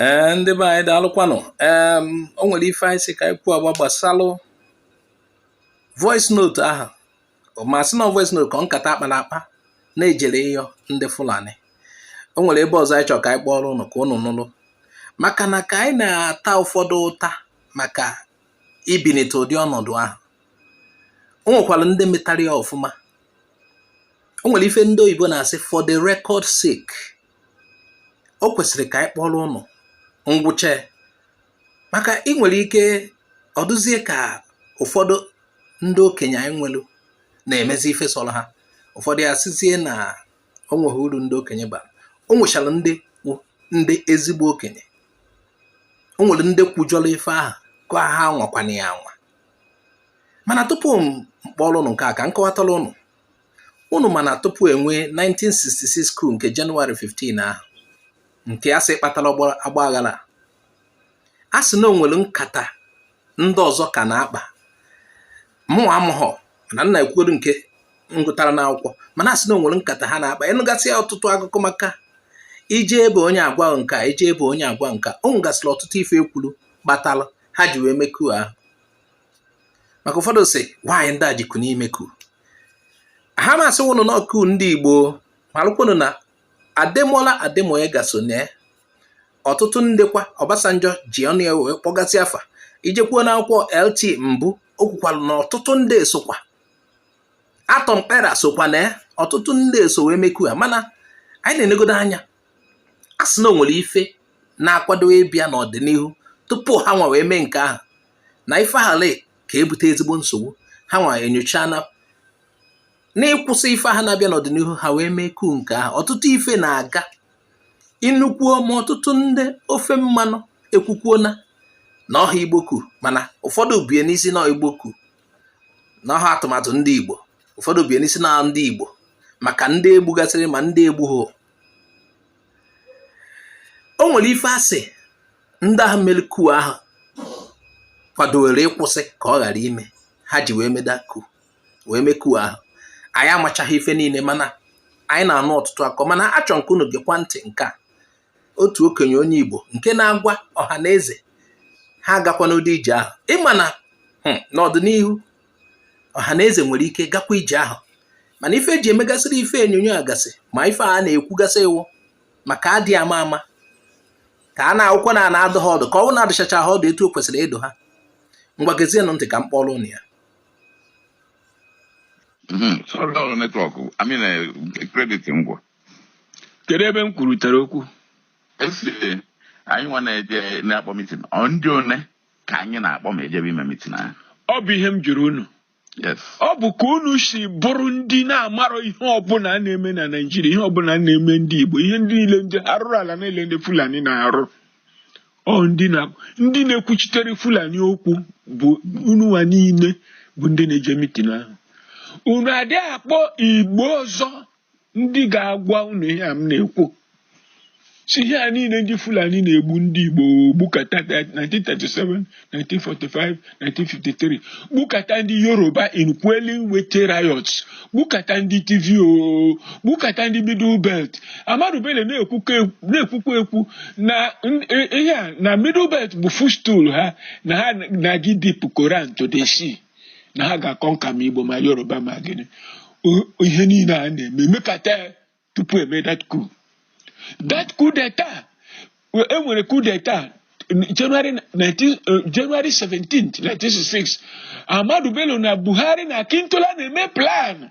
ee ndị be anyị daalụkwanụ ee o nwere ife anyị sị ka anyị kwuo agba gbasalụ voice note ahụ ma sị na ọ voice note ka ọ nkata a kpara akpa na e jere ịyọ ndị Fulani o nwere ebe ọzọ anyị chọrọ ka anyị kpọọrọ ụnụ ka ụnụ nụrụ maka na ka anyị na-ata ụfọdụ ụta maka ibinite ụdị ọnọdụ ahụ o nwekwara ndị metara ya ọfụma o nwere ife ndị oyibo na-asị for the record sake o kwesịrị ka anyị kpọọrọ ụnụ ngwụcha maka e nwere ike ọ dụzie ka ụfọdụ ndị okenye anyị nwelu na-emezi ife sọrọ ha ụfọdụ ya-asịzie na o nweghị uru ndị okenye bara o nwechara ndị ndị ezigbo okenye o nwere ndị kwujọrọ ife ahụ ka ha anwakwana ya anwa mana tupu m kpọọrọ ụnụ nke a ka m kọwatara ụnụ unu ma na tupu e nwee 1966 coup nke Jenụwarị 15 ahụ nke a sị kpatara ọgba aghara a sị na o nwere nkata ndị ọzọ ka na-akpa mụnwa amụghọ mana m na-ekwugodo nke m gụtara n'akwụkwọ mana a sị na o nwere nkata ha na-akpa ị nụgasịa ọtụtụ akụkọ maka i jee be onye a gwa nka i jee be onye a gwa nka o nwegasịrị ọtụtụ ife e kwuru kpatara ha ji wee mee coup ahụ maka ụfọdụ sị na ọ anyị ndị a jikwu n'ime coup aha ma sị wụnụ na ọ coup ndị Igbo malụkwanụ na Ademola Ademoyega so na ọtụtụ ndekwa Obasanjo ji ọnụ ya wee kpọgasị afa i jekwuo n'akwụkwọ LT Mbu o kwukwara na ọtụtụ ndị sokwa Atom Kpera sokwa na ọtụtụ ndị so wee mee coup aha mana anyị na-enegodo anya a sị na o nwere ife na-akwado ịbịa n'ọdịnihu tupu ha nwa wee mee nke ahụ na ife ahụ ka-ebute ezigbo nsogbu ha nwa enyocha na n'ịkwụsị ife aha na-abịa n'ọdịnihu ha wee mee coup nke ahụ ọtụtụ ife na-aga ị nụkwuo ma ọtụtụ ndị ofe mmanụ ekwukwuo na na ọhọ Igbo coup mana ụfọdụ bịa na-asị na ọ Igbo coup na ọhọ atụmatụ ndị igbo ụfọdụ bịa na-asị na ndị igbo maka ndị e gbugasịrị ma ndị e gbughị o nwere ife a sị ndị ahụ mere coup ahụ kwadowere ịkwụsị ka ọ ghara ime ha ji wee mee the coup wee mee coup ahụ anyị amachaghị ife niile mana anyị na-anụ ọtụtụ akọ mana achọ m ka unu gekwa ntị nke a otu okenye onye Igbo nke na-agwa Ọhanaeze ha agakwana ụdị ije ahụ ị ma na hmm, n'ọdịnihu ọha na eze nwere ike gakwa ije ahụ mana ife eji emegasịrị ife enyonyo a gasị ma ife a na-ekwugasị wụ maka adị ama ama ka a na-awụkwa na a na-adụ ha ọdụ ka ọ wụ na adụchacha ha ọdụ etu o kwesịrị ịdụ ha ngwa gezienụ ntị ka m kpọrọ unu ya sorry network i mean credit ngwa kedu ebe m kwurutere okwu e anyị nwa na-eje na-akpọ mitin ọ ndị one ka anyị na-akpọ ma ejebe ime mitin ahụ ọ bụ ihe m jụrụ unu yes ọ bụ ka unu si bụrụ ndị na-amarọ ihe ọbụla a na-eme na naijiria ihe ọbụla a na-eme ndị igbo ihe ndị niile ndị arụrụ ala niile ndị fulani na-arụ ọ ndị na ndị na-ekwuchitere fulani okwu bụ ununwa niile bụ ndị na-eje mitin ahụ unu adịghị akpọ igbo ọzọ ndị ga-agwa unu ihe a m na-ekwu sị ihe a niile ndị Fulani na-egbu ndị Igbo gbukata 1937 1945 1953 gbukata ndị Yoruba in quelling Wetie riots gbukata ndị Tiv o gbukata ndị Middle Belt Ahmadu Bello na-ekwukwa ekwu na ihe a na Middle Belt bụ footstool ha na ha na-aga idip Koran to the sea na ha ga-aconquer ma igbo ma yoruba ma gịnị ihe niile a na-eme mekata tupu eme that coup that coup d'etat enwere coup d'etat January 19, uh, January 17th 1966 Ahmadu Bello na Buhari na Akintola na-eme plan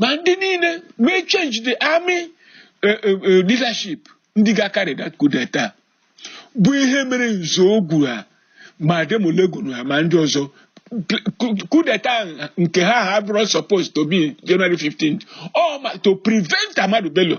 ma ndị niile mee change the army e, e, e, leadership ndị ga-acarry that coup d'etat bụ ihe mere Nzeogwu ha ma Ademulegun ha ma ndị ọzọ coup d'etat nke ha ha bụrụ supposed to be January 15th ọ ma to prevent Ahmadu Bello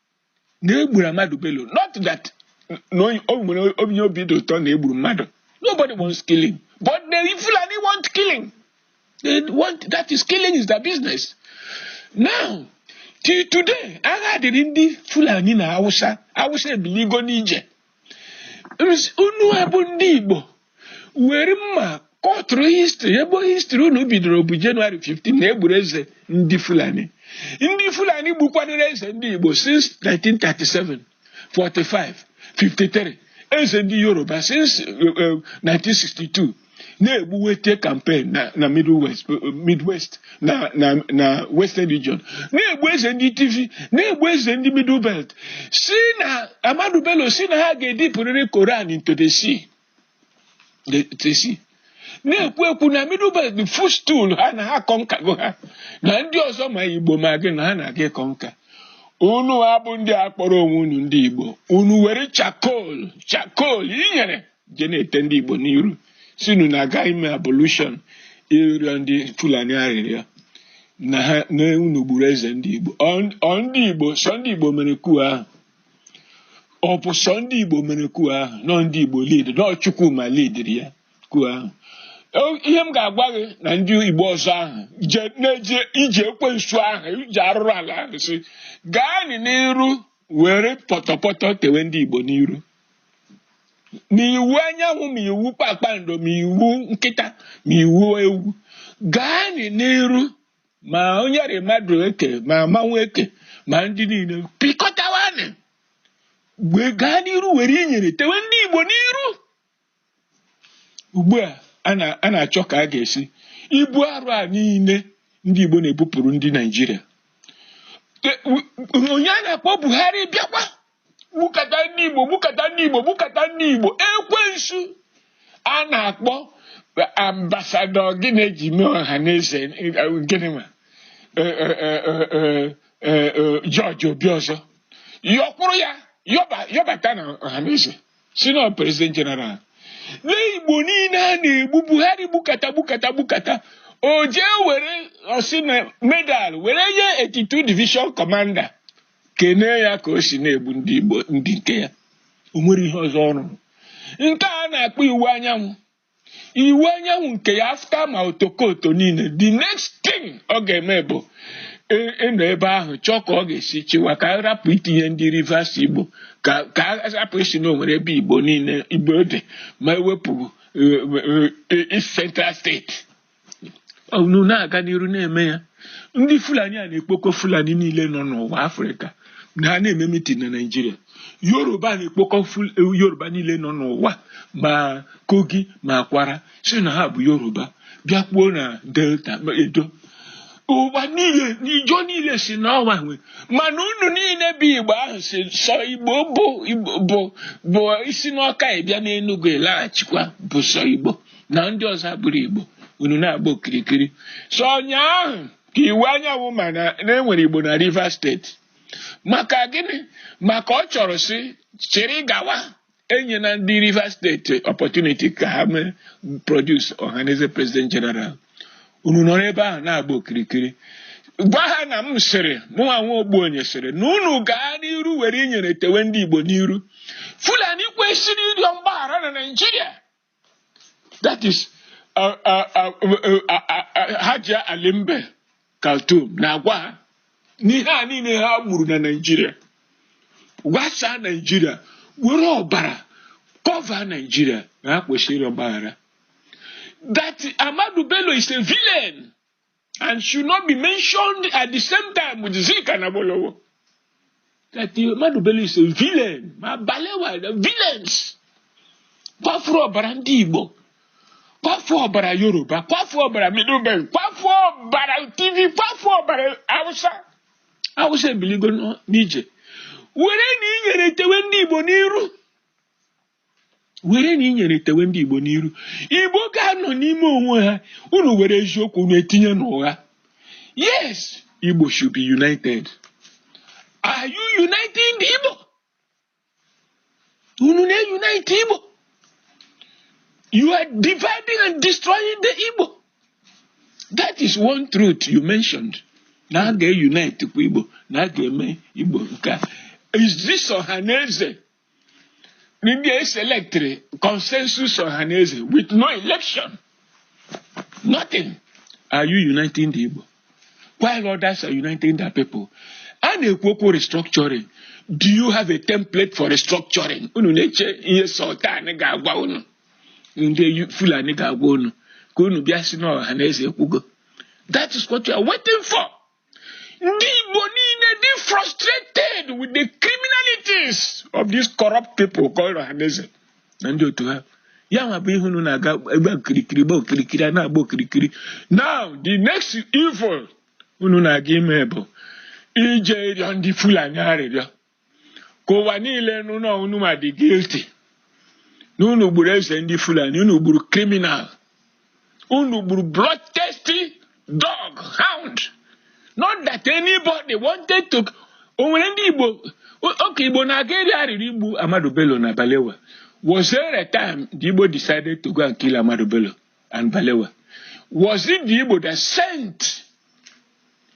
na egburu Ahmadu Bello not that na onye- o nwere onye obi dị ụtọ na egburu mmadụ nobody wants killing but the Fulani want killing they want that is killing is their business now till today agha dịrị ndị Fulani na Hausa Hausa ebiligo n'ije unu abụ ndị Igbo were mma kọtụrụ history ebe history unu bidoro bụ Jenụwarị 15 na egburu eze ndị Fulani ndị Fulani gbukwanụrụ eze ndị Igbo since 1937 45 53 eze ndị Yoruba since 1962 eh, eh, na-egbu wetie campaign na na midwest midwest na na na western region na-egbu eze ndị tiv na-egbu eze ndị middle belt sị na ahmadu bello sị na ha ga-edipụrịrị koran into the sea the, the sea na-ekwu ekwu na middle belt bụ footstool ha na ha conquergo ha na ndị ọzọ ma igbo ma gịnị na ha na-aga iconquer unu abụ ndị a kpọrọ onwe unu ndị igbo unu were charcoal charcoal inyere je na-ete ndị Igbo n'iru sịnụ na a ga ime abolition ịrịọ ndị Fulani arịrịọ na ha na unu gburu eze ndị Igbo ọ ndị Igbo sọ ndị Igbo mere coup ahụ ọ bụ sọ ndị Igbo mere coup ahụ nọ ndị Igbo lead nọ Chukwuma leadiri ya coup ahụ ihe m ga-agwa gị na ndị Igbo ọzọ ahụ na-eji iji ekwensu ahụ iji arụrụ ala ahụ si gaanị n'iru were pọtọpọtọ tewe ndị Igbo n'iru ma iwu anyanwụ ma iwu kpakpando ma iwu nkịta ma iwu ewu gaa n'iru ma onye rị mmadụ eke ma mmanwụ eke ma ndị niile pịkọtawanị wee gaa n'iru were inyere tewe ndị Igbo n'iru ugbu a a na-achọ ka a ga-esi ibu arụ a niile ndị Igbo na-ebupụrụ ndị Naijiria onye a na-akpọ Buhari bịakwa gbukata ndị Igbo gbukata ndị Igbo gbukata ndị Igbo ekwensu a na-akpọ ambassador gị na-eji mee Ohaneze gịnị ma George Obiozor yọkwụrụ ya yọbata na Ohaneze sị na ọ president general na igbo niile a na-egbu buhari gbukata gbukata gbukata o jee were ọ sị na medal were nye 82 division commander kenee ya ka o si na-egbu ndị igbo ndị nke ya o nwere ihe ọzọ ọ rụrụ nke a na-akpọ Iwuanyanwụ Iwuanyanwụ nke ya after ma otokoto niile the next thing ọ ga-eme bụ ị- ịnọ ebe ahụ chọọ ka ọ ga-esi chịwa ka a rapụ itinye ndị rivers igbo ka ka a rapụ ịsị na o nwere ebe igbo niile igbo dị ma ewepụ eh, eh, east central state unu na-aga n'iru na-eme ya ndị fulani a na-ekpokọ fulani niile nọ n'ụwa afrịka na ha na-eme mitin na naijiria yoruba na-ekpokọ ful- yoruba niile nọ n'ụwa ma kogi ma kwara sị na ha bụ yoruba bịakwuo na delta ma edo ụwa niile ịjọ niile sị n'ọ wa nwe mana unu niile bụ igbo ahụ sị sọ igbo bụ Igbo- bụ bụ i si n'ọka ị bịa n'enugwu ị laghachikwa bụ sọ igbo na ndị ọzọ abụrụ Igbo unu na-agba okirikiri sọ ụnyaahụ ka Iwuanyanwụ ma na e nwere Igbo na Rivers State maka gịnị maka ọ chọrọ si chịrị gawa enyena ndị Rivers State opportunity ka ha mee produce Ohaneze president general unu nọrọ ebe ahụ na-agba okirikiri gwa ha na m sịrị mụnwa nwa Ogbuonye sịrị na unu gaa n'iru were inyere tewe ndị Igbo n'iru Fulani kwesịrị ịrịọ mgbaghara na Naịjirịa that is uh, uh, uh, Hajia Alimbe Kaltum na-agwa ha n'ihe a niile ha gburu na Naịjirịa gwasaa Naịjirịa were ọbara cover Naịjirịa na ha kwesịrị ịrịọ mgbaghara that Ahmadu Bello is a villain and should not be mentioned at the same time with Zik and Awolowo. That Ahmadu Bello is a villain. Ma Balewa, the villains. Kwafuru ọbara ndị Igbo. Kwafuru ọbara Yoruba. Kwafuru ọbara Middle Belt. Kwafuru ọbara Tiv. Kwafuru ọbara Hausa. Hausa ebiligo n'ije. Were na inyere tewe ndị Igbo n'iru. were na inyere tewe ndị Igbo n'iru Igbo ga-anọ n'ime onwe ha unu were eziokwu unu etinye n'ụgha yes Igbo should be united are you uniting the Igbo unu na-unite Igbo you are dividing and destroying the Igbo that is one truth you mentioned na a ga-unite kwa Igbo na a ga-eme Igbo nke a is this Ohaneze ndị e selectịrị consensus Ohaneze with no election nothing are you uniting the Igbo while others are uniting their people a na-ekwu okwu restructuring do you have a template for restructuring unu na-eche ihe Sultan ga-agwa unu ndị Fulani ga-agwa unu ka unu bịa sị na Ohaneze ekwugo that is what you are waiting for. Ndị Igbo niile dị frustrated with the criminalities of these corrupt people called Ohaneze na ndị otu ha. Ya nwa bụ ihe unu na-aga agba okirikiri gba okirikiri a na-agba okirikiri. Now the next evil unu na-aga ime bụ ije ịrịọ ndị Fulani arịrịọ. ka ụwa niile nụ na unu nwa dị guilty na unu gburu eze ndị Fulani unu gburu criminal unu gburu bloodthirsty dog hound not that anybody wanted to o nwere ndị Igbo okay Igbo na-aga ịrịọ arịrịọ igbu Ahmadu Bello na Balewa was there a time the Igbo decided to go and kill Ahmadu Bello and Balewa was it the Igbo that sent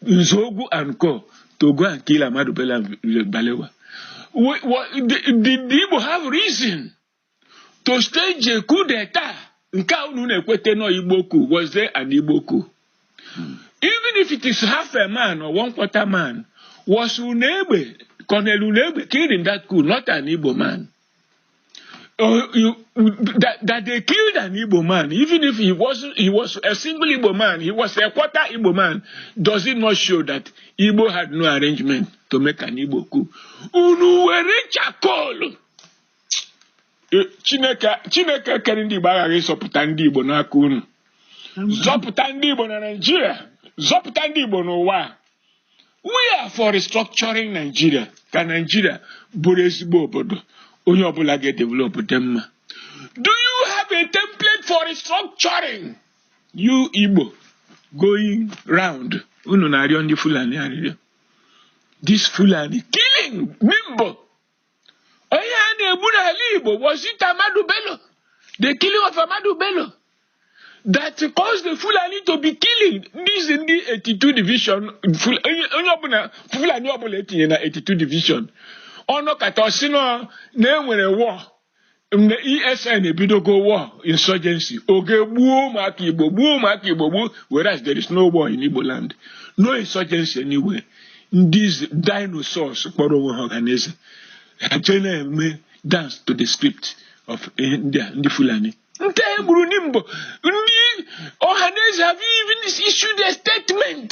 Nzogwu and Co to go and kill Ahmadu Bello Balewa. We, we, the, the, the Igbo have reason to stage a coup d'etat. Nke a unu na-ekwete nọ Igbo coup was there an Igbo coup? Hmm. Even if it is half a man or one quarter man, was Unegbe, Colonel Unegbe killed in that coup, not an Igbo man. uh, you, that, that they killed an Igbo man, even if he was he was a single Igbo man, he was a quarter Igbo man, does it not show that Igbo had no arrangement to make an Igbo coup? Unu were charcoal. Eh, Chineke Chineke kere ndị Igbo aghaghị ịzọpụta ndị Igbo n'aka unu zọpụta ndị Igbo na Naịjirịa zọpụta ndị Igbo n'ụwa we are for restructuring Nigeria ka Nigeria bụrụ ezigbo obodo onye ọbụla ga-edevelop dị mma do you have a template for restructuring you Igbo going round unu na-arịọ ndị Fulani arịrịọ this Fulani killing Nimbo onye a na-egbu n'ala Igbo was it Ahmadu Bello the killing of Ahmadu Bello that caused the Fulani to be killing these ndị 82 division onye ọbụla Fulani ọbụla etinye na 82 division ọ nọkata ọ sị na enwere war ndị ESN ebidogo war insurgency o jee gbuo ụmụaka Igbo gbuo ụmụaka Igbo gbuo whereas there is no war in Igbo land no insurgency anywhere ndị dinosaurs kpọrọ onwe ha ọhaneze ha jee na-eme dance to the script of ndị a, ndị Fulani ndị e gburu na Nimbo ndị ọhaneze have you even issued a statement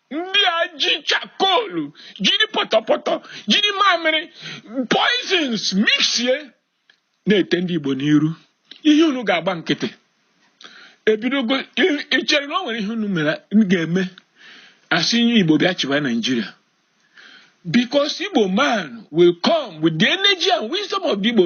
ndị a ji chakolu jiri pọtọpọtọ jiri mamịrị poisons mixie na-ete ndị Igbo n'iru ihe unu ga-agba nkịtị ebidogo i chere na o nwere ihe unu mere ga-eme a sị onye Igbo bịa chịwa Nigeria because Igbo man will come with the energy and wisdom of the Igbo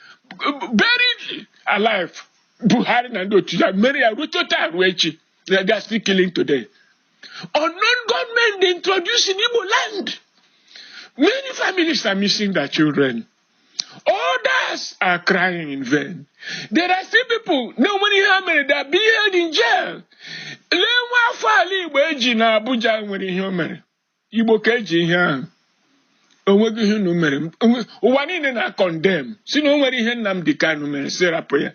buried alive buhari na ndị otu ya mere ya ruo taa ruo echi na they are still killing today unknown gunmen they introduced in igbo land many families are missing their children others are crying in vain there are still people na onweghị ihe ha mere they are being held in jail lee nwa afọ ala igbo e ji na abuja nwere ihe o mere igbo ka e ji ihe ahụ onweghị ihe unu mere ụwa niile na condemn sị na o nweghị ihe Nnamdi Kanu mere sị rapụ ya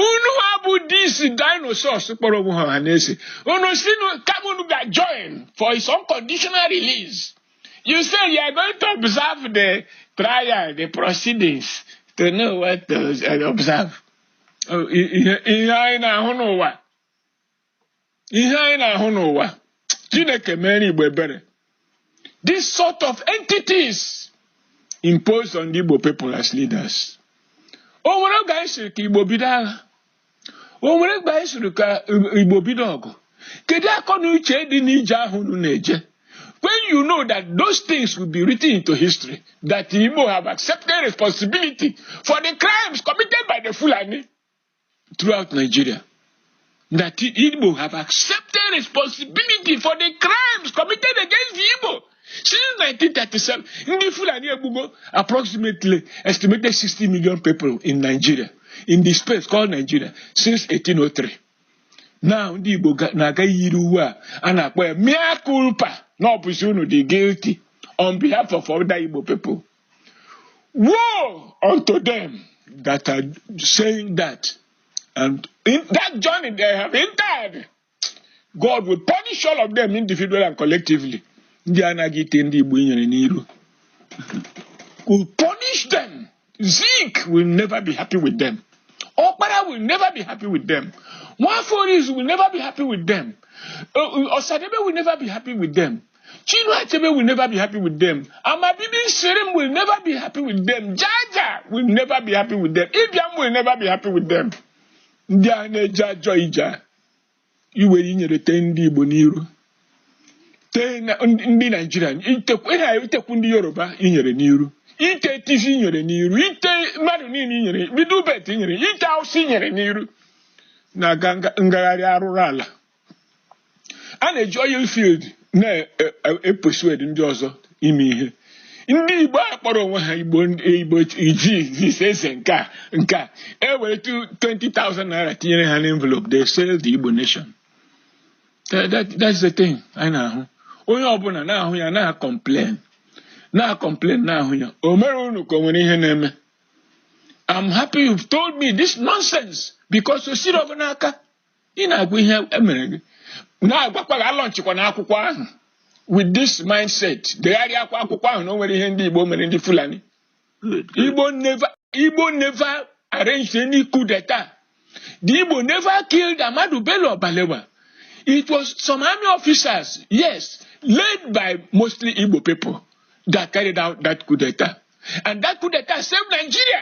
unuwa bụ these dinosaurs kpọrọ onwe ha ọhaneze unu sị kama unu ga join for his unconditional release you say you are going to observe the trial the proceedings to know what to observe oh, ihe anyị na-ahụ n'ụwa ihe anyị na-ahụ n'ụwa chineke meere igbo ebere this sort of entities imposed on the igbo people as leaders o nwere oge anyị sịrị ka igbo bido agha o nwere oge anyị sịrị ka igbo bido ọgụ kedu akọ na uche dị n'ije ahụ unu na-eje when you know that those things will be written into history that Igbo have accepted responsibility for the crimes committed by the Fulani throughout Nigeria that Igbo have accepted responsibility for the crimes committed against the Igbo since 1937. Ndị Fulani egbugo approximately estimated 60 million people in Nigeria in the space called Nigeria since 1803. Now ndị Igbo na-aga yiri uwe a a na-akpọ ya mea culpa na ọ bụzi unu dị guilty on behalf of other Igbo people. Woe unto them that are saying that. And in that journey they have entered, God will punish all of them individually and collectively. Ndị anaghị ite ndị Igbo inyere n'iru. Will punish them. Zeke will never be happy with them. Okpara will never be happy with them. Nwaforis will never be happy with them. Uh, uh, Osadebe will never be happy with them. Chinua Achebe will never be happy with them. Amabibi Shirim will never be happy with them. Jaja will never be happy with them. Ibiam will never be happy with them. Ndị a na-eje ajọ ije a, iwere inyere tee ndị Igbo n'iru tee na- ndị ndị Naijiria itekwu ịha itekwu ndị Yoruba inyere n'iru ite Tiv inyere n'iru ite mmadụ niile inyere bido ubet inyere ite Awụsa inyere n'iru na-aga nga- ngagharị arụrụ ala a na-eji oil field na-epersuade ndị ọzọ ime ihe ndị igbo a kpọrọ onwe ha igbo igbo iji this eze nke a nke a e were 20,000 naira tinyere ha n'envelope they sell the igbo nation That- that- that's the thing anyị na-ahụ onye ọbụla na-ahụ ya na-acomplain na-acomplain na-ahụ ya o mere unu ka o nwere ihe na-eme I'm happy you've told me this nonsense because o siri ọ bụ n'aka ị na-agwa ihe emere gị na-agwakwa gị alaunchịkwana akwụkwọ ahụ with this mindset degharịakwa akwụkwọ ahụ na o nwere ihe ndị Igbo mere ndị Fulani Igbo never Igbo never arranged any coup d'etat the Igbo never killed Ahmadu Bello or Balewa it was some army officers yes led by mostly Igbo people that carried out that coup d'etat and that coup d'etat saved Nigeria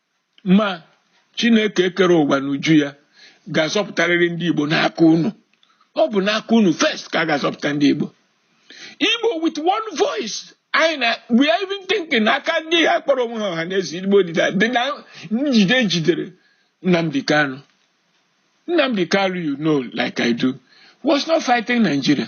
ma chineke kere ụwa n'uju ya ga-azọpụtarịrị ndị igbo n'aka unu ọ bụ n'aka unu first ka a ga-azọpụta ndị igbo igbo with one voice anyị na we are even thinking na aka ndị a kpọrọ onwe ha Ọhanaeze Igbo dị na dị na njide e jidere Nnamdi Kanu Nnamdi Kanu you know like I do was not fighting Nigeria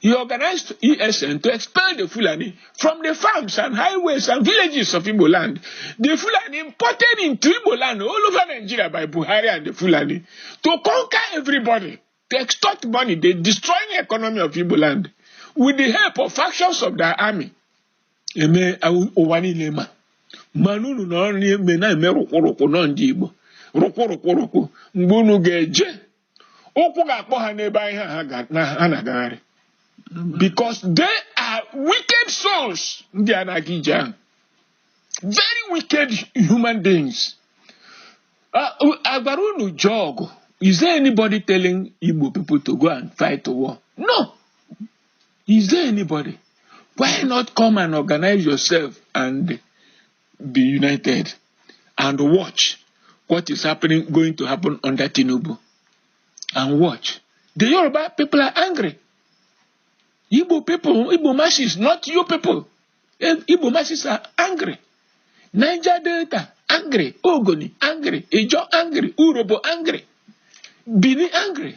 He organized ESN to expel the Fulani from the farms and highways and villages of Igbo land. The Fulani imported into Igbo land all over Nigeria by Buhari and the Fulani to conquer everybody, to extort money. They destroyed the economy of Igbo land with the help of factions of their army. Ihe ụwa niile ma mana unu nọrọ na-eme na-eme rụkwụrụkwụ nọ ndị Igbo rụkwụrụkwụrụkwụ mgbe unu ga-eje ụkwụ ga-akpọ ha n'ebe ahụ ha na-agagharị because they are wicked souls ndị a na-aga ije ahụ very wicked human beings a gwara unu jee ọgụ is there anybody telling Igbo people to go and fight a war no is there anybody why not come and organize yourself and be united and watch what is happening going to happen under Tinubu and watch the Yoruba people are angry Igbo people Igbo masses not you people eh, Igbo masses are angry Niger Delta angry Ogoni angry Ijo angry Urobo angry Bini angry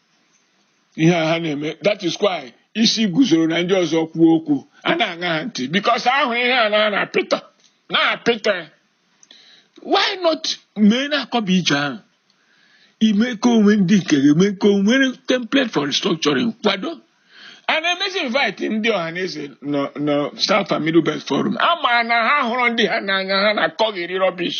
ihe a ha na-eme that is why Isiguzoro na ndị ọzọ kwuo okwu a na-aṅa ha ntị because ahụ ihe a na-apịta na-apịta why not mee na akọ bụ ije ahụ ime ka e nwee ndị nke ga-eme ka e nwee template for restructuring kwado a na-emezi invite ndị Ọhaneze na South and Middle Belt Forum a ma na ha hụrụ ndị ha n'anya ha na-akọghịrị rubbish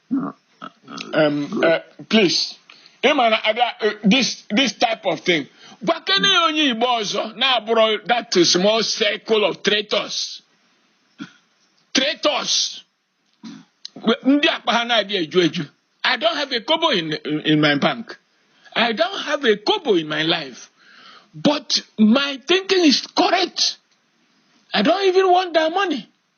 um, uh, please ị ma na abịa uh, this this type of thing gwakene ya onye Igbo ọzọ na-abụrọ that small circle of traitors traitors ndị akpa ha na-adị eju eju i don't have a kobo in, in my bank i don't have a kobo in my life but my thinking is correct i don't even want that money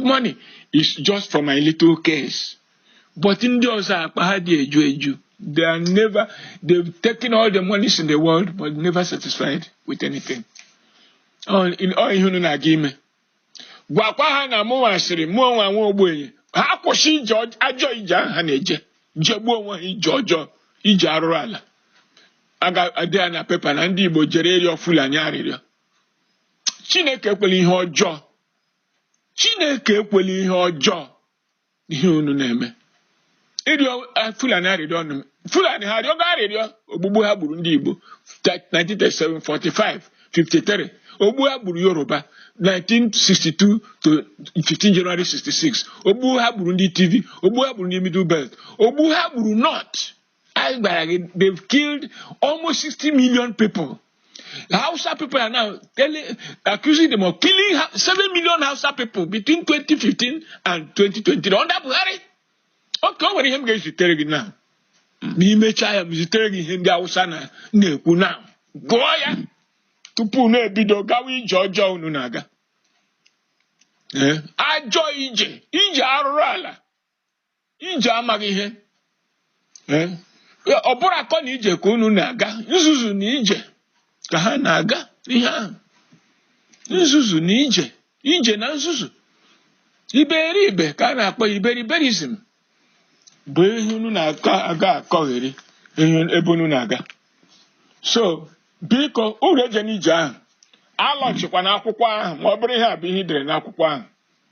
money is just for my little case but ndị ọzọ akpa ha dị eju eju they are never they've taken all the monies in the world but never satisfied with anything ọ ihe unu na-aga ime gwakwa ha na mụ nwa sịrị mụ onwe nwa ogbenye ha kwụsị ije ajọ ije ahụ ha na-eje jegbuo onwe ha ije ọjọọ ije arụrụ ala a ga-ede ya na pepa na ndị Igbo jere ịrịọ Fulani arịrịọ Chineke ekwela ihe ọjọọ Chineke ekwela ihe ọjọọ ihe unu na-eme ịrịọ eh, Fulani arịrịọ ọnụ Fulani ha arịọgo arịrịọ ogbugbu ha gburu ndị Igbo 1937 45 53 ogbu ha gburu Yoruba 1962 to 15 January 66 ogbu ha gburu ndị Tiv ogbu ha gburu ndị Middle Belt ogbu ha gburu North anyị gbara gị they've killed almost 60 million people Hausa people are now telling, accusing them of killing 7 million Hausa people between 2015 and 2020 under Buhari okay o nwere ihe m ga-ezitere gị now m mechaa ya m zitere gị ihe ndị Hausa na-ekwu now gụọ ya tupu unu ebido gawa ije ọjọọ unu na-aga ajọ ije ije arụrụ ala ije amaghị ihe Eh, ọ bụrọ akọ na ije ka unu na-aga nzuzu na ije ka ha na-aga ihe ahụ nzuzu na ije ije na nzuzu iberibe ka a na-akpọ ya iberiberism bụ ihe unu na-aga akọgheri ebe unu na-aga so biko uru eje n'ije ahụ alọchikwa n'akwụkwọ ahụ ma ọ bụrụ ihe a bụ ihe i dere n'akwụkwọ ahụ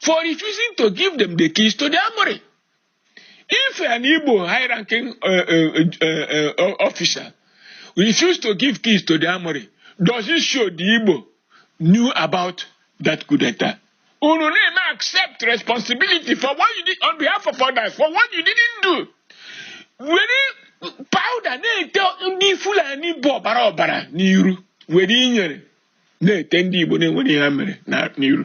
for refusing to give them the keys to the armory. If an Igbo high-ranking uh, uh, uh, officer refused to give keys to the armory, does it show the Igbo knew about that coup d'etat? Unu na-eme accept responsibility for what you did on behalf of others, for what you didn't do. Were powder na-ete ndị Fulani bụ ọbara ọbara n'iru were inyere na-ete ndị Igbo na-enwerọ ihe ha mere n'iru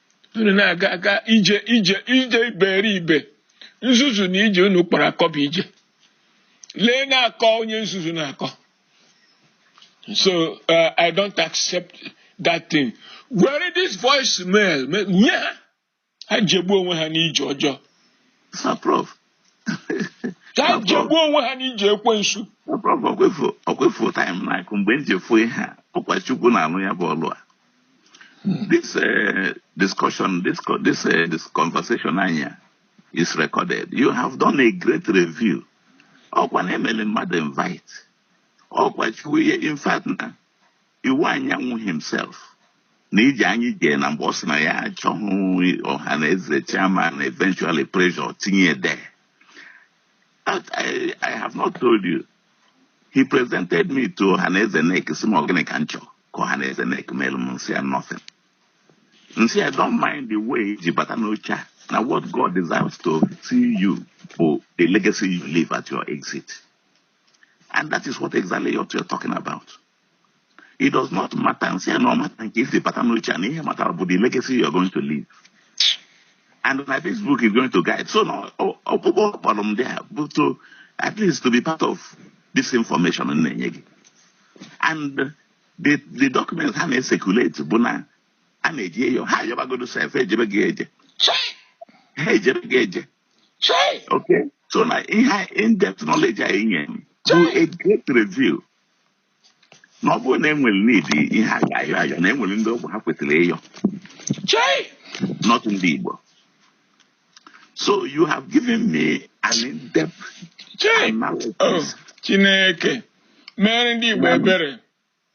unu na-aga aga ije ije ije iberibe nzuzu na ije unu kpọrọ akọ bụ ije lee na-akọ onye nzuzu na-akọ so uh, i don't accept that thing were this voice mail m nye ha ha jegbuo onwe ha n'ije ọjọọ Sir Prof. ka ha jegbuo onwe ha n'ije ekwensu Sir Prof ọkwa ị fụ ọkwa ị fụ time na-akụ mgbe m ji efu ihe a ọkwa Chukwu na-alụ ya bụ ọlụ a. This uh, discussion, this, this, uh, this conversation anyị a is recorded. You have done a great review. Ọkwa na emelu mmadụ invite. Ọkwa chukwu ihe in fact na Iwuanyanwu himself na iji anyị jee na mgbe ọ sị na ya achọghị Ohaneze chairman eventually pressure tinye there. I, I have not told you. He presented me to Ohaneze NEC sị m ọ gịnị ka m chọ. ka Ohaneze NEC meelu m m sị ya nothing m sị ya don't mind the way i ji bata n'oche a na what God desires to see you bụ the legacy you leave at your exit and that is what exactly you're, you're talking about it does not matter m sị ya na ọ mata nke i si bata n'oche a na ihe matara bụ the legacy you're going to leave and my this book is going to guide so na ọkpụkpọ kpọrọ m there bụ to at least to be part of this information m na-enye gị and the the documents ha na-ecirculate bụ na a na-eje ịyọ ha ayọbagodu sef ejebeghị eje Chai! ha ejebeghị eje Chai! okay so na ihe in-depth knowledge a i nye m bụ a great review na ọ bụrụ na enwere need ihe a ga-ayọ ayọ na enwere ndị ọ bụ ha kwetara ịyọ Chai! not ndị Igbo So you have given me an in-depth analysis. Oh, Chineke, mere ndị Igbo ebere.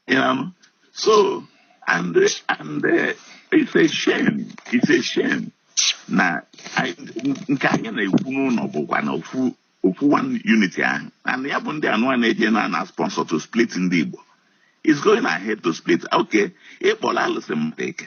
Yeah. So, and, and uh, it's a shame, it's a shame na nke anyị na-ekwu n'ụlọ bụkwa na ofu ofu one unity ahụ and ya bụ ndị anụwa na-eje na na sponsor to split ndị Igbo is going ahead to split okay ịkpọrọ alụsị mmadụ eke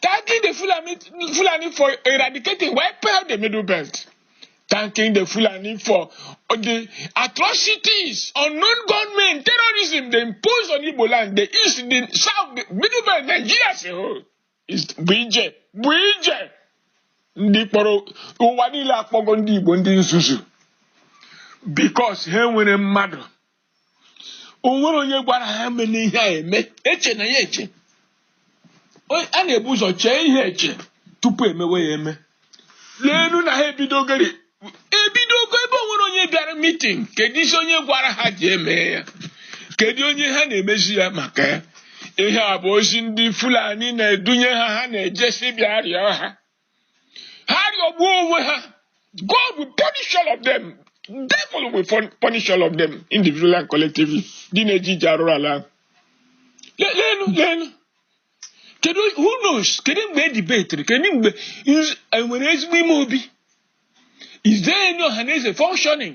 thanking the Fulani for eradicating, wiping out the Middle Belt, thanking the Fulani for the atrocities, unknown gunmen, terrorism they impose on Igbo land, the East, the South, the Middle Belt, Nigeria as a whole bụ ije, bụ ije ndị kpọrọ ụwa niile akpọgo ndị Igbo ndị nzuzu because ha nwere mmadụ o nwere onye gwara ha meenụ ihe a eme echena ya eche a na-ebu ụzọ chee ihe eche tupu emewe ya eme leenu na ha ebidogori ebidogo ebe o nwere onye bịara meeting kedu isi onye gwara ha ji eme ya kedu onye ha na-emezi ya maka ya ihe a bụ ozi ndị fulani na-edunye ha ha na-ejesi bịa rịọ ha ha rịọgbuo onwe ha God will punish all of them devil will punish all of them individually and collectively ndị na-eje ije arụrụ ala leenu leenu kedu who knows kedu mgbe e debatiri kedu mgbe e nwere ezigbo ime obi is there any ọhaneze functioning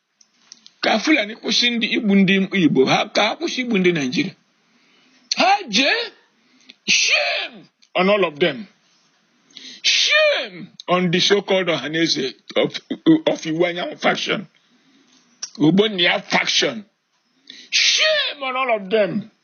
ka fulani kwụsị ndị igbu ndị igbo ka ha kwụsị igbu ndị nigeria ha jee shame on all of them shame on the so-called ọhaneze of, of iwuanyanwu faction ogbonnia faction shame on all of them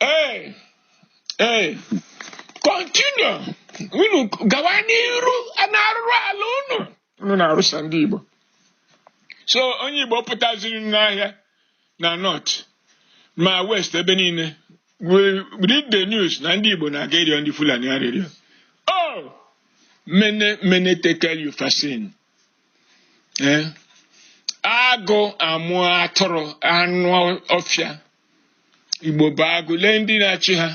Hey, hey, continue. Unu gawa n'iru n'arụrụ ala unu. Unu na-arụsa ndị Igbo. So onye Igbo pụtaziri n'ahịa na north ma west ebe niile. We read the news na ndị Igbo na-aga ịrịọ ndị Fulani arịrịọ. Oh, mene mene tekel upharsin. ee agụ amụọ atụrụ anụ ọfịa igbo bụ agụ lee ndị na-achị ha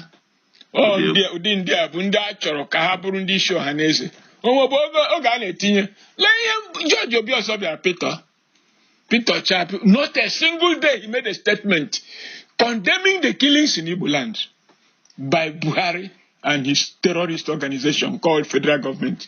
ụdị ndị a bụ ndị a chọrọ ka ha bụrụ ndị isi ọhaneze o nwebu oge a na-etinye lee ihe George Obiozor bịara Peter Peter Obi not a single day he made a statement condemning the killings in Igbo land by Buhari and his terrorist organization called federal government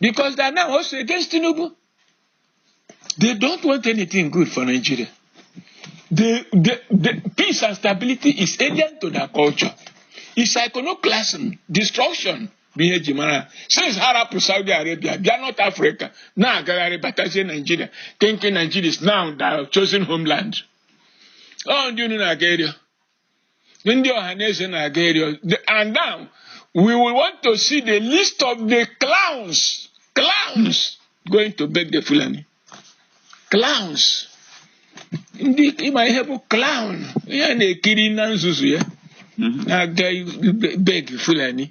because they are now also against Tinubu. They don't want anything good for Nigeria. The, the, the peace and stability is alien to their culture. It's iconoclasm, destruction. bụ ihe e ji mara since ha rapụ Saudi Arabia bịa North Africa na-agagharị batazie Nigeria thinking Nigeria is now their chosen homeland ọ ndị unu na-aga ịrịọ ndị Ohaneze na-aga ịrịọ and now we will want to see the list of the clowns clowns going to beg the Fulani clowns ndị ị ma ihe bụ clown ihe a na-ekiri na nzuzu ya mhm. na-aga beg Fulani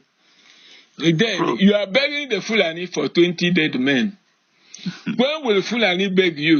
then you are begging the Fulani for 20 dead men mhm. when will Fulani beg you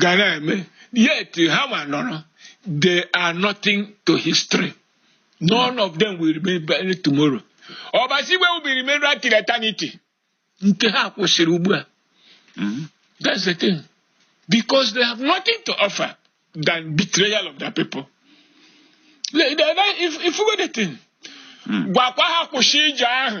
ga na-eme yet ha ma nọrọ they are nothing to history none of them will remain tomorrow Obasi Igwe will be remembered till eternity nke ha kwụsịrị ugbu a mm-hmm. that's the thing because they have nothing to offer than betrayal of their people if, if we the thing hmm. gwakwa ha kwụsị ije ahụ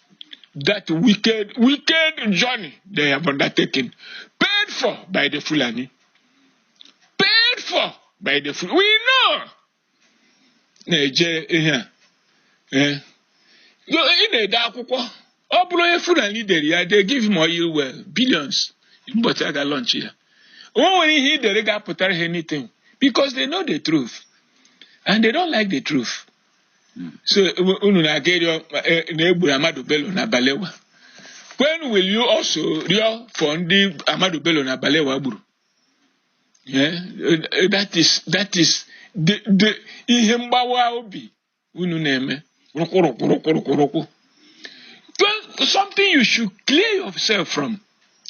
that wicked, wicked journey they have undertaken, paid for by the Fulani. Paid for by the Fulani. We know. Na-eje ihe a. Eh? Ị na-ede akwụkwọ, ọ bụrụ onye Fulani dere ya, they give him oil well, billions, ụbọchị a ga-launch ya. O nwere ihe ị dere ga-apụtara ha anything because they know the truth and they don't like the truth. hmm. so unu na-aga ịrịọ e, na e gburu Ahmadu Bello na Balewa when will you also rịọ for ndị Ahmadu Bello na Balewa gburu eh, eh, that is that is the the ihe mgbawa obi unu na-eme rụkwụrụkwụrụkwụrụkwụrụkwụ something you should clear yourself from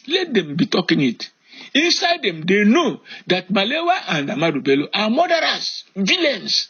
let them be talking it Inside them, they know that Balewa and Ahmadu Bello are murderers, villains.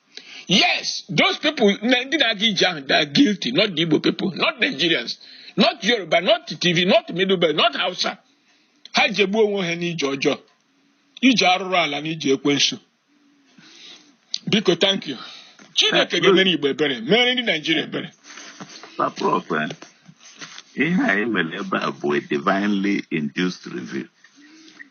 Yes, those people, ndị na-aga ije ahụ, they are guilty, not the Igbo people, not Nigerians, not Yoruba, not Tiv, not Middle Belt, not Hausa. Ha jegbuo onwe ha n'ije ọjọọ, ije arụrụ ala na ije ekwensu. Biko, thank you. Chineke ga-emere Igbo ebere, mere ndị Naijiria ebere. Eh, ihe anyị mere ebe a bụ a divinely induced review.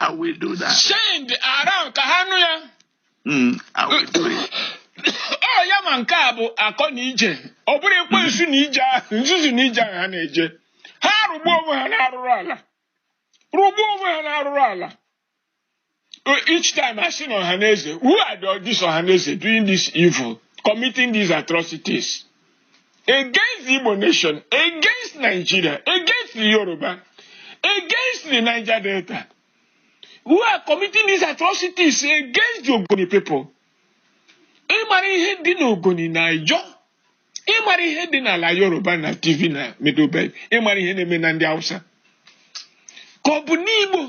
I will do that. Send it around ka ha nụ ya. Mm, I will do it. Ọ ya ma nke bụ akọ na ije. Ọ bụrụ ekwensu n'ije ahụ, nzuzu n'ije ahụ ha na-eje. Ha rụgbuo onwe ha n'arụrụ ala. Rụgbuo onwe ha n'arụrụ ala. Each time I see Ohaneze, who are the, this Ohaneze doing this evil, committing these atrocities? against the Igbo nation, against Nigeria, against the Yoruba, against the Niger Delta, who are committing these atrocities against the Ogoni people. ị mara ihe dị n'Ogoni na Ijaw ị mara ihe dị n'ala yoruba na Tiv na Middle Belt ị mara ihe na-eme na ndị hausa ka ọ bụ n'igbo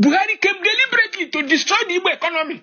buhari came deliberately to destroy the igbo economy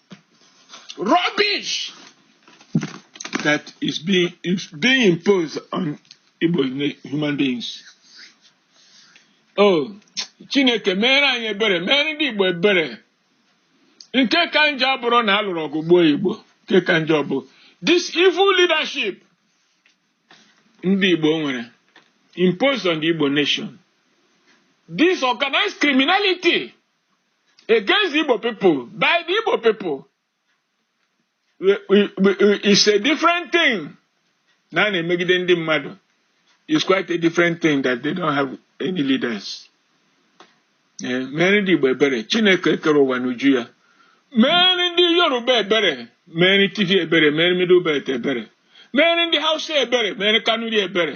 rubbish that is being, is being imposed on Igbo human beings. Oh, Chineke mere anyị ebere mere ndị Igbo ebere nke ka njọ abụrụ na a lụrụ ọgụ gbuo Igbo nke ka njọ bụ this evil leadership ndị Igbo nwere imposed on the Igbo nation this organized criminality against the Igbo people by the Igbo people it's a different thing na a na-emegide ndị mmadụ is quite a different thing that they don't have any leaders eh, mere ndị Igbo ebere Chineke kere ụwa n'uju ya mere ndị Yoruba ebere mere Tiv ebere mere Middle Belt ebere mere ndị Hausa ebere mere Kanuri ebere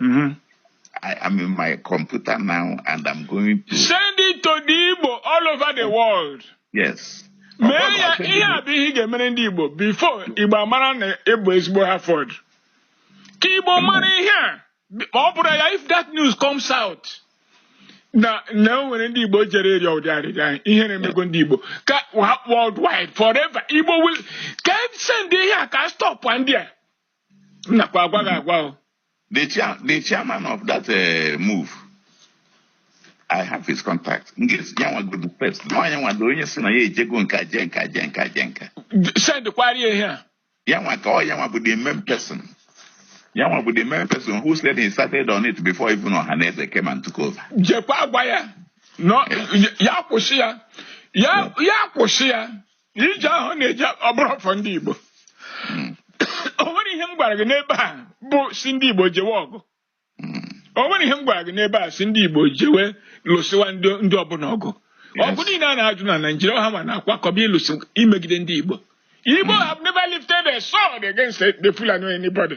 Mm -hmm. I am in my computer now and I'm going to send it to the Igbo all over the world. Yes. mee ya ihe a bụ ihe ị ga-emere ndị Igbo before Igbo amara na ị bụ ezigbo Harvard ka Igbo mara ihe a ọ bụrụ ya if that news comes out na na o nwere ndị Igbo jere ịrịọ ụdị arịrịọ a ihere emego ndị Igbo worldwide forever Igbo will ka e send ihe a ka a stopwa ndị a m nakwa agwa gị agwa o the chair the chairman of that uh, move i have his contact m ga-esi ya nwa go the first na onye nwa dị onye sị na ya ejego nka je nka je nka je nka send kwari ihe a ya nwa ka ọ ya nwa bụ the main person ya nwa bụ the main person who said he started on it before even Ohaneze came and took over jekwa agwa ya na ya kwụsị ya ya ya kwụsị ya ije ahụ na-eje ọ bụrọ for ndị Igbo mm. o nwere ihe m gwara gị n'ebe a bụ sị ndị Igbo jewe ọgụ mm. o nwere ihe m gwara gị n'ebe a sị ndị Igbo jewe lụsịwa ndị ọbụla ọgụ ọgụ niile a na-ajụ na Naịjirịa ha nwa na-akwakọba ịlụsị imegide ndị Igbo Igbo have never lifted a sword against the Fulani or anybody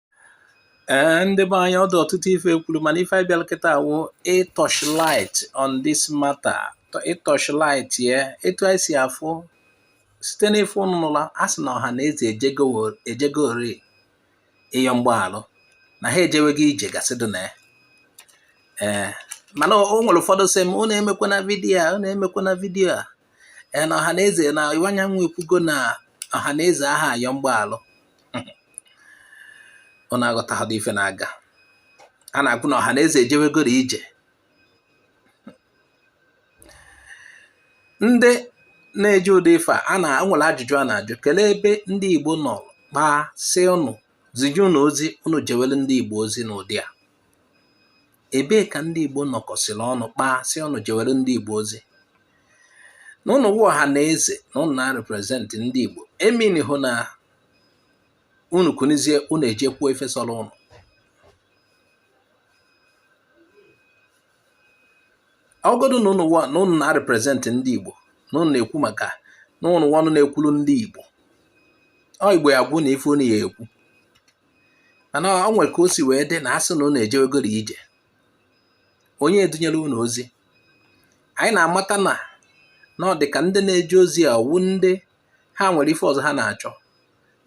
ee eh, ndị be anyị ọ dụ ọtụtụ ife e kwuru mana ife anyị bịara kịta awụ ịtọch light on this matter ịtọch light ya etu anyị si afụ site n'ife ụnụ nụla a sị na Ọhaneze ejegori ịyọ mgbaalụ na ha ejewego ije gasị dị na ya ee eh, mana o nwere ụfọdụ sị m unu emekwana vidiyo a unu emekwana vidiyo a ee na Ọhaneze na Iwuanyanwụ ekwugo na Ọhaneze aha ayọ mgbaalụ ụnụ aghọtahadị ife na-aga a na-agwa ụnụ na Ọhaneze ejewegoro ije ndị na-eje ụdị ife a o nwere ajụjụ a na-ajụ kelee ebe ndị Igbo nọ kpaa sị ụnụ zije ụnụ ozi ụnụ jewere ndị Igbo ozi n'ụdị a ebee ka ndị Igbo nọkọsịrị ọnụ kpaa sị unu jewere ndị Igbo ozi na ụnụ wụ ọhaneze na ụnụ na-represent ndị Igbo emean họ na unu kunizie unu eje kwuo ife sọrọ ụnụ ọgodu na ụnụ na ụnụ na-represent ndị Igbo na ụnụ na-ekwu maka na ụnụ wụ ọnụ na-ekwuru ndị Igbo ọ Igbo ya agwa unu ife unu ya ekwu mana ọ nwere ka o si wee dị na a sị na unu ejewegoro ije onye edunyere unu ozi anyị na-amata na na ọ dị ka ndị na-eje ozi a wụ ndị ha nwere ife ọzọ ha na-achọ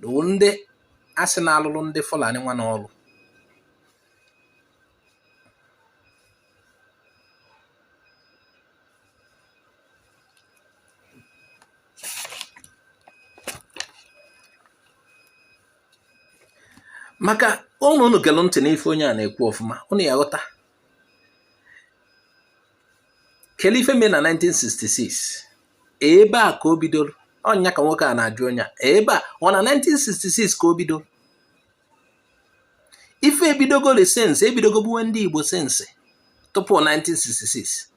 na wụ ndị a sị na-alụrụ ndị Fulani nwa n'ọrụ maka ụnụ unu gere ntị n'ife onye a na-ekwu ọfụma ụnụ ya ghọta kele ife mee na 1966 ebe a ka o bidoro ọ nya ka nwoke a na-ajụ onye a ebe a ọ họ na 1966 ka o bidoro ife ebidogori since ebidogo gbuwe ndị Igbo since tupu 1966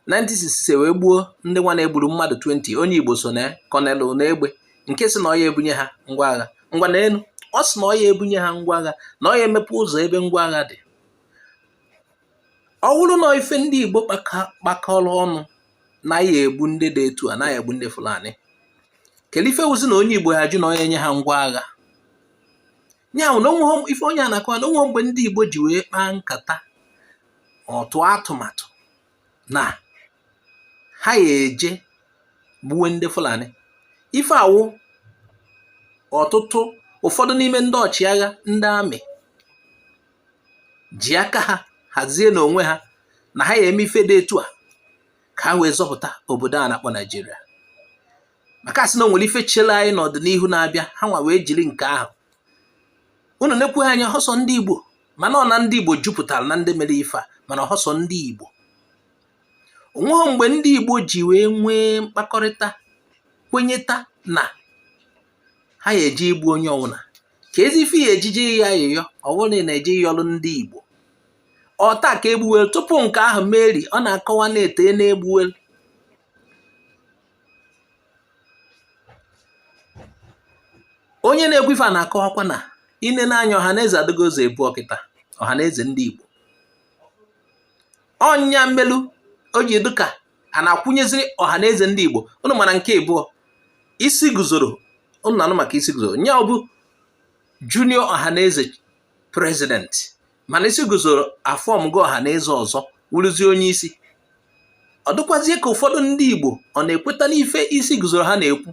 1966 wee gbuo ndị nwa na-egburu mmadụ 20 onye Igbo so na Colonel Unegbe nke sị na ọ ya ebunye ha ngwa agha ngwa na elu ọ sị na ọ ya ebunye ha ngwa agha na ọ ya emepe ụzọ ebe ngwa agha dị ọ wụrụ na ife ndị Igbo kpakọrọ ọnụ na a ya egbu ndị dị etu a na a ya egbu ndị Fulani kele ife wụzi na onye Igbo ya ajụ na ọ ya enye ha ngwa agha ya wụ na ife onye a na-akọwa na o nweghị mgbe ndị Igbo ji wee kpaa nkata or tụọ atụmatụ na ha ya eje gbuwe ndị Fulani ife a wụ ọtụtụ ụfọdụ n'ime ndị ọchịagha ndị army ji aka ha hazie n'onwe ha na ha ya eme ife dị etu a ka ha wee zọpụta obodo a na-akpọ Naijiria maka a sị na o nwere ife chere anyị n'ọdịnihu na-abịa ha nwa wee jiri nke ahụ unu na-ekwu anya ọ họ sọ ndị Igbo mana ọ na ndị Igbo jupụtara na ndị mere ife a mana ọ họ sọ ndị Igbo o nweghị mgbe ndị Igbo ji wee nwee mkpakọrịta kwenyeta na ha ya eje igbu onye ọ wụna kezi ife a ya eji eje ayịyọ ọ wụrụ na-eje ịyọlụ ndị Igbo ọ taa ka egbuwelu tupu nke ahụ meri ọ na-akọwa na eteena egbuwelu onye na-ekwu ife a na-akọwakwa na i nee anya ọhaneze adịgo ụzọ ibụọ kịta ọhaneze ndị Igbo ọ nya melu o ji dịka a na-akwụnyeziri ọhaneze ndị Igbo ụnụ mara nke abụọ Isiguzoro ụnụ na-anụ maka Isiguzoro nya ọ bụ junior ọhaneze president mana Isiguzoro aformgo Ọhanaeze ọzọ wụrụzie onye isi ọ dịkwazie ka ụfọdụ ndị Igbo ọ na-ekweta n'ife Isiguzoro ha na-ekwu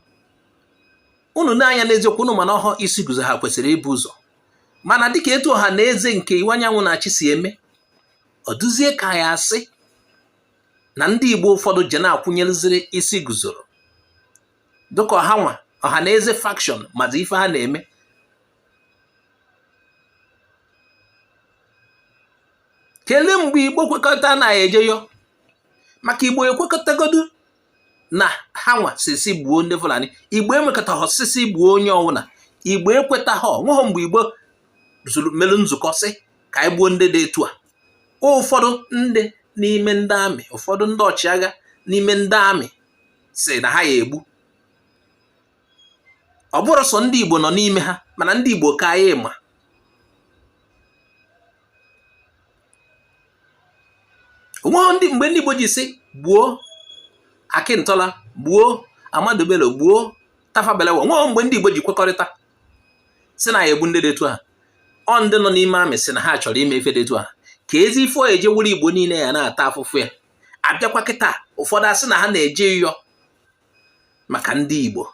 unu na-anya n'eziokwu unu ma na ọhọ Isiguzoro ha kwesịrị ibu ụzọ mana dịka etu Ọhanaeze nke Iwuanyanwụ na-achị si eme ọ dụzie ka ya asị na ndị Igbo ụfọdụ je na-akwụnyereziri Isiguzoro dịka ọ ha nwa Ọhanaeze faction mazi ife ha na-eme kelee mgbe igbo kwekọta na eje yọọ maka igbo ekwekọtaghọdu na ha nwa sị sị gbuo ndị fulani igbo ekwekọtaghọ sị sị gbuo onye ọwụna igbo ekwetaghọ nweghọ mgbe igbo zuru melu nzukọ sị ka anyị gbuo ndị dị etu a ụfọdụ ndị n'ime ndị army ụfọdụ ndị ọchịagha n'ime ndị army sị na ha ya egbu ọ bụrọ sọ ndị Igbo nọ n'ime ha mana ndị Igbo ka anyị ma onweghị mgbe ndị Igbo ji sị gbuo Akịntọla gbuo Ahmadu Bello gbuo Tafawa Balewa onweghị mgbe ndị Igbo ji kwekọrịta sị na a ya egbu ndị dị etu a ọ ndị nọ n'ime army sị na ha chọrọ ime ife dị etu a kezi ife eji wụrụ Igbo niile ya na-ata afụfụ ya abịakwa kịta ụfọdụ asị na ha na-eje ịyọ maka ndị Igbo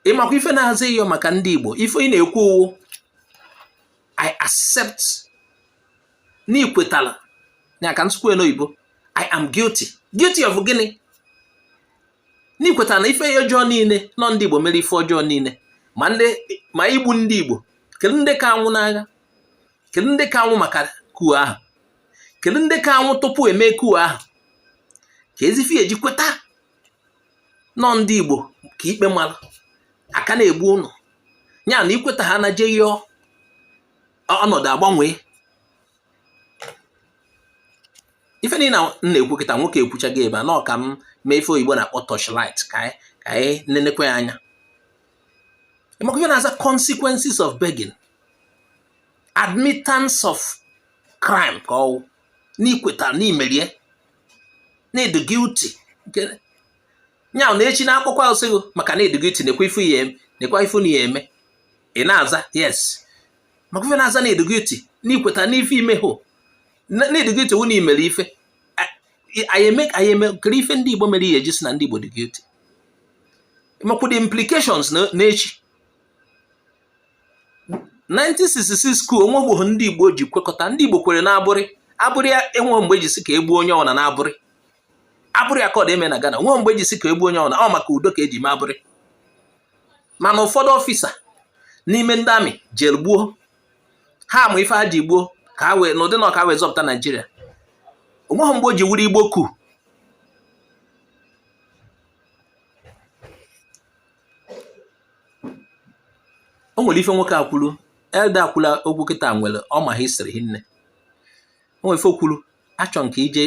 ịmakwa ife na-aza ịyọ maka ndị Igbo ife ị na-ekwu wụ I accept n'ikwetala ya ka m sụkwue n'oyibo I am guilty guilty of gịnị n'ikwetala na ife ọjọọ niile na ọ ndị Igbo mere ife ọjọọ niile ma igbu ndị Igbo kedu ndị ka anwụ n'agha kedu ndị ka anwụ maka coup ahụ kedu ndị ka anwụ tupu e mee coup ahụ kezi ife eji kweta na ọ ndị Igbo ka ikpe mara a ka na-egbu unu ya na ikweta ha na je yọọ ọnọdụ agbanwee ife niile na na-ekwu kịta nwoke ekwuchago ebe a na ọ ka m mee ife oyibo na-akpọ torchlight ka anyị nenekwa anya ịmakwa ife na-aza consequences of begging admittance of crime ka ọwụ n'ikweta n'imere ya na ị dị guilty nke ya na echi na ekwukwa sị gị maka na ị dị guilty nekwa ife a ya eme nekwa ife na ya eme ị na-aza yes maka ife na-aza na ị dị guilty n'ikweta n'ife ime ho na ị dị guilty wụ na imere ife anyị eme anyị eme kedu ife ndị Igbo mere ihe eji sị na ndị Igbo dị guilty makwa the implications na echi 1966 coup o nweghị oge ndị Igbo ji kwekọta ndị Igbo kwere n'Aburi Aburi a enweghị mgbe e ji sị ka egbuo onye ọbụla n'Aburi Aburi Accord e mere na Ghana o nweghị mgbe e ji sị ka egbuo onye ọbụla ọ maka udo ka eji mee Aburi mana ụfọdụ ọfịsa n'ime ndị army jere gbuo ha ma ife ha ji gbuo ka ha wee n'ụdị na ọ ka e wee zọpụta Naijiria o nweghị mgbe o ji wụrụ Igbo coup o nwere ife nwoke a kwulu elder a kwulu okwu kịta nwere ọ ma history hinne o nwere ife o kwulu achọ nke ije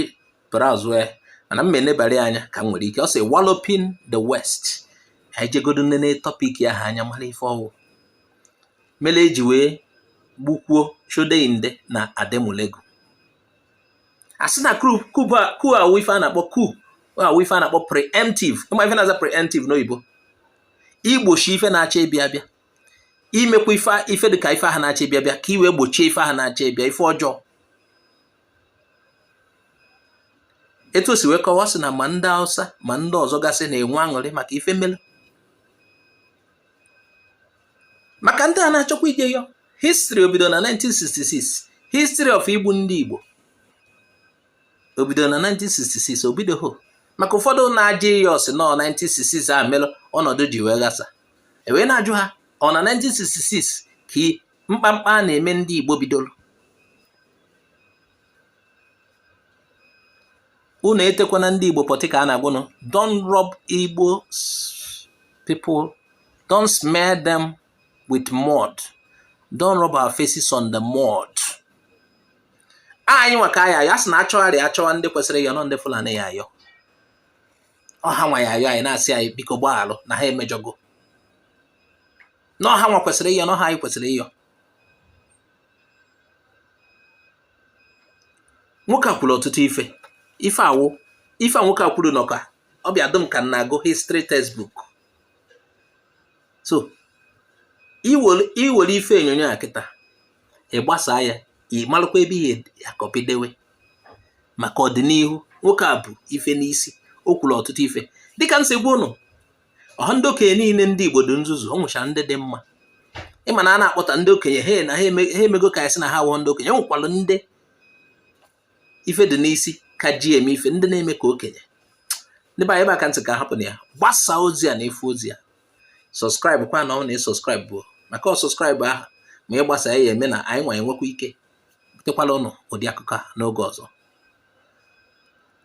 browse ya mana m enebara ya anya ka m nwere ike ọ sị walloping the west anyị jegodo nene topic ahụ anya mara ife ọ wụ mere eji wee gbukwuo Shodeinde na Ademulegun ọ sị na coup a wụ ife a na-akpọ coup a wụ ife a na-akpọ preemptive ị ma ife na-aza preemptive n'oyibo igbochi ife na-achọ ịbịa abịa imekwa ife ife dịka ife ahụ na-achọ ịbịa abịa ka i wee gbochie ife ahụ na-achọ ịbịa ife ọjọọ etu o si wee kọwa sị na ma ndị Hausa ma ndị ọzọ gasị na-enwe aṅụrị maka ife melu maka ndị a na-achọkwa ije yọ history obido na 1966 history of igbu ndị Igbo obido na 1966 o bidohọ maka ụfọdụ na-ajụ ihe ọ sị na ọ 1966 a mere ọnọdụ ji wee ghasa e wee na-ajụ ha ọ na 1966 ka mkpamkpa a na-eme ndị Igbo bidoro unu etekwana ndị Igbo apịtị ka a na-agwa unu don't rub Igbo people don't smear them with mud don't rub our faces on the mud anyị nwa ka a ya-ayọ a sị na achọgharị achọwa ndị kwesịrị ịyọ na ọ ndị Fulani ya-ayọ ọ ha nwa ya-ayọ anyị na-asị anyị biko gbaghalụ na ha emejọgo na ọ ha nwa kwesịrị ịyọ na ọhọ anyị kwesịrị ịyọ nwoke a kwuru ọtụtụ ife ife awụ ife a nwoke a kwuru na ọ ka ọ bịa dị m ka m na-agụ history textbook so i were ife onyonyo a kịta ị gbasa ya ị malụkwa ebe ị ya-acopy dewe maka ọdịnihu nwoke a bu ife n'isi o kwuru ọtụtụ ife dịka m si gwa ụnụ ọhọ ndị okenye niile ndị Igbo dị nzuzu o nwechara ndị dị mma ị ma na a na-akpọta ndị okenye ha na ha emego ka a sị na ha awụhọ ndị okenye nwekwara ndị ife dị n'isi ka ji eme ife ndị na-eme ka okenye ndị be anyị ebe a ka m sị ka hapụ na ya gbasaa ozi a na-efe ozi a subscribe kwa na ọ na ị subscribe bụ maka ọ subscribe ahụ ma ị gbasa ya eme na anyị nwa enwekwa ike butekwala ụnụ ụdị akụkọ a n'oge ọzọ